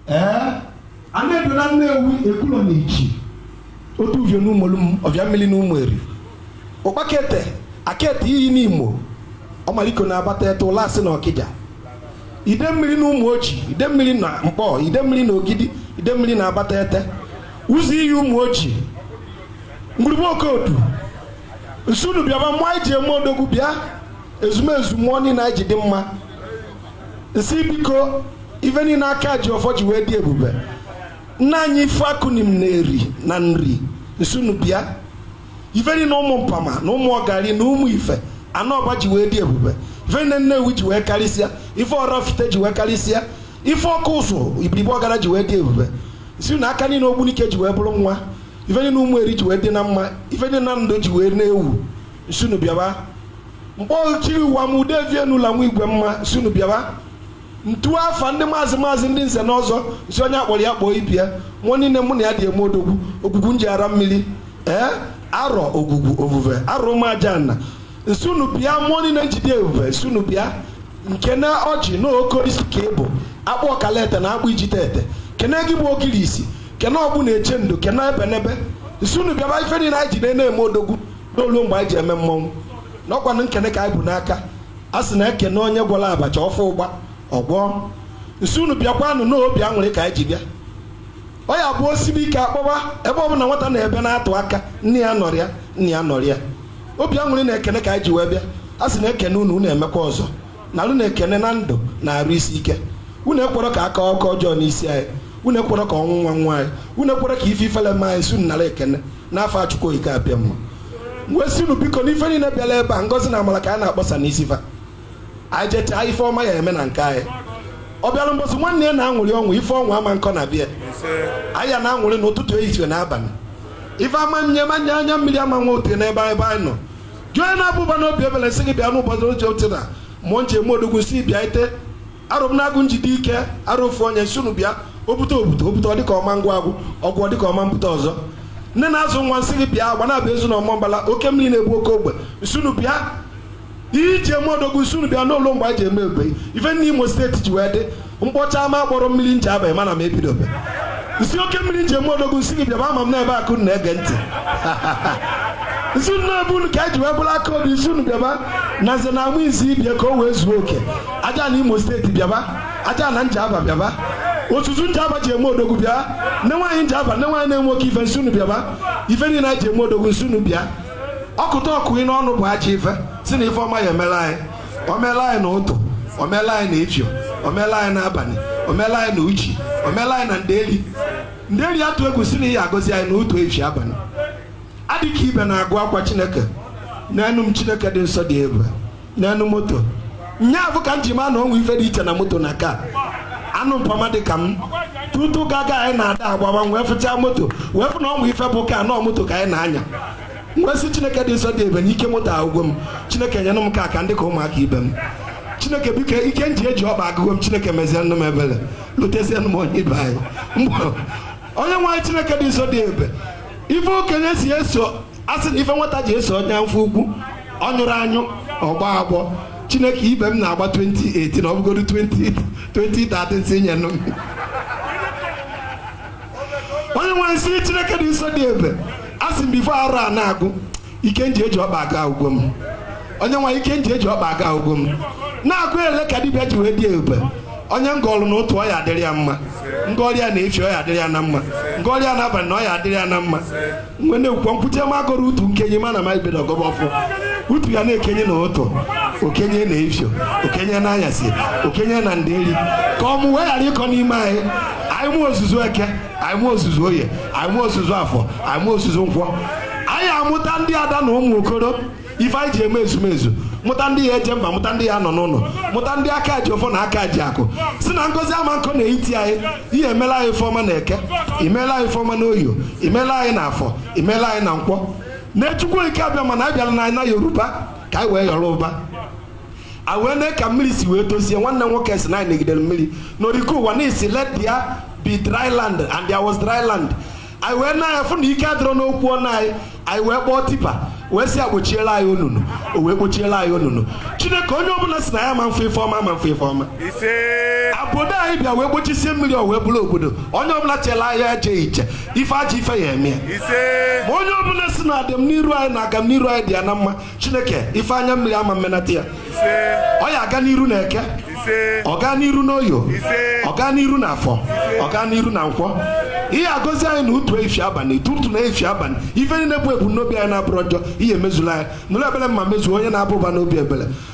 ee ana edo na nnewi ekwulọ na ichi otu uvio na ụmụolum ovia mmiri na ụmụeri ụkpakete akete iyi nimo ọmaliko na abatete ụlasị na ọkịja ide mmiri na ụmụoji ide mmiri na nkpọ ide mmiri na ogidi ide mmiri na abatete ụzọ iyi ụmụoji ngwurugbe okodu nsị unu bịaba mmụọ anyị ji eme odogwu bịa ezumezu mmụọ niile anyị ji dị mma nsị biko ife niile aka ji ọfọ ji wee dị ebube nna anyị ifikuanim na eri na nri nsị unu bịa ife niile ụmụmpama na ụmụọgari na ụmụ ife anọ ọba ji wee dị ebube ife niile nnewi ji wee karịsịa ife ọraifite ji wee karịsịa ife ọkụzụ ibiribe ọgada ji wee dị ebube si na aka niile ogbunike ji wee bụrụ nwa ife niile ụmụeri ji wee dị na mma ife niile nando ji wee na-ewu nsị unu bịaba mkpọ chiri ụwa ma ude vie n'ụlọ nwa igwe mma nsị unu bịaba ntu afa ndị maazị maazị ndị nze na ọzọ nsi onye akpọrọ ya kpọọ ibe ya mmụọ niile mụ na ya ji eme odogwu ogwugwu njighara mmiri ee arọ ogwugwu ovuve arọ ụmụajana nsị unu bịa mmụọ niile nji dị ebube nsị unu bịa nkene ọjị na okorisi ka ịbụ akpụ ọkalete na akpụ ijite ete kene gị bụ ogirisi kene ọgbụ na-eche ndo kene ebenebe nsị unu bịaba ife niile anyị ji na-eme odogwu n'olu mgbe anyị ji eme mmọnwụ n'ọ kwanụ ekene ka anyị bu n'aka a sị na ekene onye gwọrọ abacha ọ fụ ụgba ọ gwọọ nsị unu bịakwanụ n'obi aṅụrị ka anyị ji bịa ọ ya bụ o sibe ike a kpọba ebe ọ bụla nwata na-ebe na-atụ aka nne ya anọrọ ya nna ya anọrọ ya obi aṅụrị na ekene ka anyị ji wee bịa a sị na ekene unu unu emekwa ọzọ na unu na ekene na ndụ na arụ isi ike unu ekwerọ ka akụkọ ọjọọ n'isi anyị unu ekwerọ ka ọnwụnwa nwaa anyị unu ekwerọ ka ife ifele mee anyị sị unu nara ekene n'afa chukwu okike abịama wee sị unu biko n'ife niile bịara ebe a ngọzi na amara ka anyị na-akpọsa n'isi fa anyị jechaa ife ọma ya eme na nke anyị ọ bịara mbọsị nwanne ya na-aṅụrị ọṅụ ife ọṅụ ama nkọ na be ya anyị ya na-aṅụrị n'ụtụtụ ehihie na abalị ife ama nye manye anya mmiri ama nwa ote n'ebe ebe anyị nọ jụọ na abụba na obi ebele sị gị bịa n'ụbọchị oche oche na mmụọ nji eme odogwu si bịa ite arụ m na-agụ nji dị ike arụ ofu onye nsi unu bịa obute obute obute ọ dịka ọma ngwa agwụ ọgwụ ọ dịka ọma mbute ọzọ nne na-azụ nwa nsị gị bịa agbanabọ ezu na ọmambala oke mmiri na-ebu oke ogbe nsi unu bịa iji eme odogwu nsi unu bịa n'ụlọ mgbe a ji eme egbe ife niile imo steeti ji wee dị m kpọchaa ma akpọrọ mmiri njaba ị ma na m ebidobe nsi oke mmiri nji eme odogwu nsi gị bịaba ama m n'ebe akụ na-ege ntị nsi na ọ bụ unu ka e ji wee bụrụ aka obi nsi unu bịaba na nze na amụ izi ibe ya ka o wee zuo oke ajana imo steeti bịaba ajana njaba bịaba otutu njaba ji eme odogwu bịa nne nwaanyị njaba nne nwaanyị na-enwe oke ife nsi unu bịaba ife niile anyị ji eme odogwu nsi unu bịa ọkụta ọkụ ị n'ọnụ bụ aja ife si na ife ọma ya emere anyị o mela anyị na ụtụ o mela anyị na efio o mela anyị na abalị o mela anyị na uchi o mela anyị na nderi nderi atụ egwu sị na ị ya agọzi anyị na ụtụ efi abalị adịka ibe na-agụ akwa chineke n'enu m chineke dị nsọ dị ebube nyenụ m moto nyaafụ ka m ji maa na o nwe ife dị iche na moto na car anụ mpama dị ka m tutu gaga anyị na-ada agbawa wee fụchaa moto wee fụ na o nwe ife bụ car na ọ moto ka anyị na-anya nwesị chineke dị nsọ dị ebube na ike moto agwụgo m chineke nyenụ m car ka m dị ka ụmụaka ibe m chineke biko ike nji eji ọkpa agwụgo m chineke mezie nụ m ebere lotezie nụ m onye ibe anyị onye nwe anyị chineke dị nsọ dị ebube ife okenye si eso asị na ife nwata ji eso onye afọ ukwu ọ nyụrọ anyụ ọ gbọọ agbọ chineke ibe m na-agba 2018 ọ bụgodu 2013 si nye nụ m onye nwe m sị chineke dị nsọ dị ebube a sị m before arọ a na-agwụ ike nji eji ọkpa aga agwụgo m onye nwe ike nji eji ọkpa aga agwụgo m na-agụ ele ka dibịa ji wee dị ebube onye ngọlụ na ụtụ ọ ya adịrị ya mma ngọrịa na efi ọ ya adịrị ya na mma ngọrịa na abalị na ọ ya adịrị ya na mma mgbe na-ekwukwa nkwute m agụrụ utu nkenye ma na ma ibedo ọgọba ọfụ utu ya na-ekenye na ụtụ o kenye na efio o kenye na anyasị o kenye na nderi ka ọmụmụ wee ghara ịkọ n'ime anyị anyị mụ ozuzu eke anyị mụ ozuzu oye anyị mụ ozuzu afọ anyị mụ ozuzu nkwọ anyị amụta ndị ada na ụmụ okoro ife anyị ji eme ezumezu mụta ndị ya eje mba mụta ndị ya nọ n'ụlọ mụta ndị aka ji ọfọ na aka ji akụ sị na ngọzi ama nkọ na etiti anyị ị ya emela anyị ifeọma na eke i meela anyị ifeọma na oye i meela anyị na afọ i meela anyị na nkwọ na chukwu okike abịama na anyị bịala na ana yoruba ka anyị wee yọrọ ụba a wee mee ka mmiri si wee dozie nwanne nwoke si na anyị negidere mmiri n'oriko ụwa n'isi let there be dry land and there was dry land anyị wee na ya fụ na ike adịrọ n'okwu ọnụ anyị anyị wee kpọọ tipa wee sị akpochiela anyị onunu o wee kpochiela anyị onunu chineke onye ọbụla sị na ya ma mfụ ife ọma ma mfụ ife ọma obodo anyị bịa wee gbochisie mmiri o wee bụrụ obodo onye ọbụla chela ahịa eje iche ife ajọ ife ya eme ya ma onye ọbụla sị na adịm n'iru anyị na agam n'iru anyị dị ya na mma chineke ife anya mmiri ama mmenata ya ọ ya aga n'iru na eke ọ gaa n'iru n'oye ọ gaa n'iru na afọ ọ gaa n'iru na nkwọ ị ya agọzi anyị na ụtụ efi abalị tutu na efi abalị ife niile bụ ebumnobi anyị na-abụrọ njọ ị ya emezula anyị nụrụ ebele mma mezuo onye na-aba ụba n'obi ebele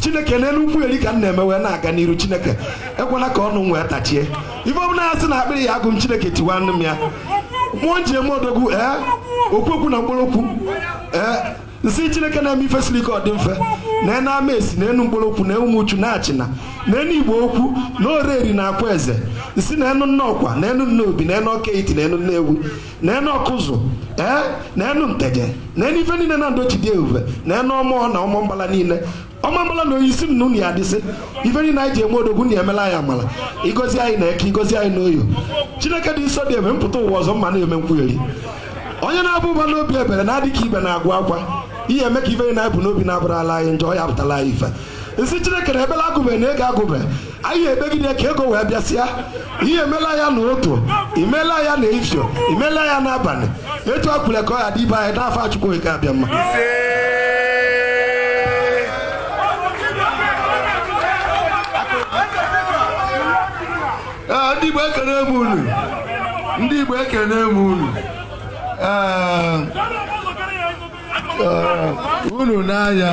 chineke n'elu nkwugheri ka m na-eme wee na-aga n'iru chineke ekwela ka ọnụ m wee tachie ife ọbụla ya sị na akpịrị ya agụ m chineke tiwa nụ m ya mmụọ nji eme odogwu ee okwu okwu na nkpologwu ee nsị chineke na-eme ife siri ike ọ dị mfe na enu amesi na enu nkpologwu na ụmụchu na achịna na enu igbo ukwu na ọraeri na akwaeze nsị na enu nnọkwa na enu nnobi na enu ọka etiti na enu nnewi na enu ọkụzụ ee na enu nteje na enu ife niile na ndochi dị ebube na enu ọmụọ na Ọmambala niile Ọmambala na Oyi si nnu na ya dịsị ife niile anyị ji eme odogwu na emela anyị amala igozi anyị na eke igozi anyị na oye chineke dị nsọ dị ebe mpụta ụwa ọzọ mma na-eme nkwugheri onye na-aba ụba n'obi ebere na-adị ka ibe na-agwa akwa ihe eme ka ife niile anyị bu n'obi na-abụrala anyị njọ ya pụtala anyị ife n sị chineke na ebela agụbe na ego agụbe anyị ebegide ka ego wee bịasịa ihe emela ya na ụtụtụ imela ya na ifio imela ya n'abalị etu a kwulu ka ọ ya adị be anyị n'afa Chukwu Okike Abịama Ee, ndị Igbo ekene m unu ndị Igbo ekene m unu Ee, ee, unu n'anya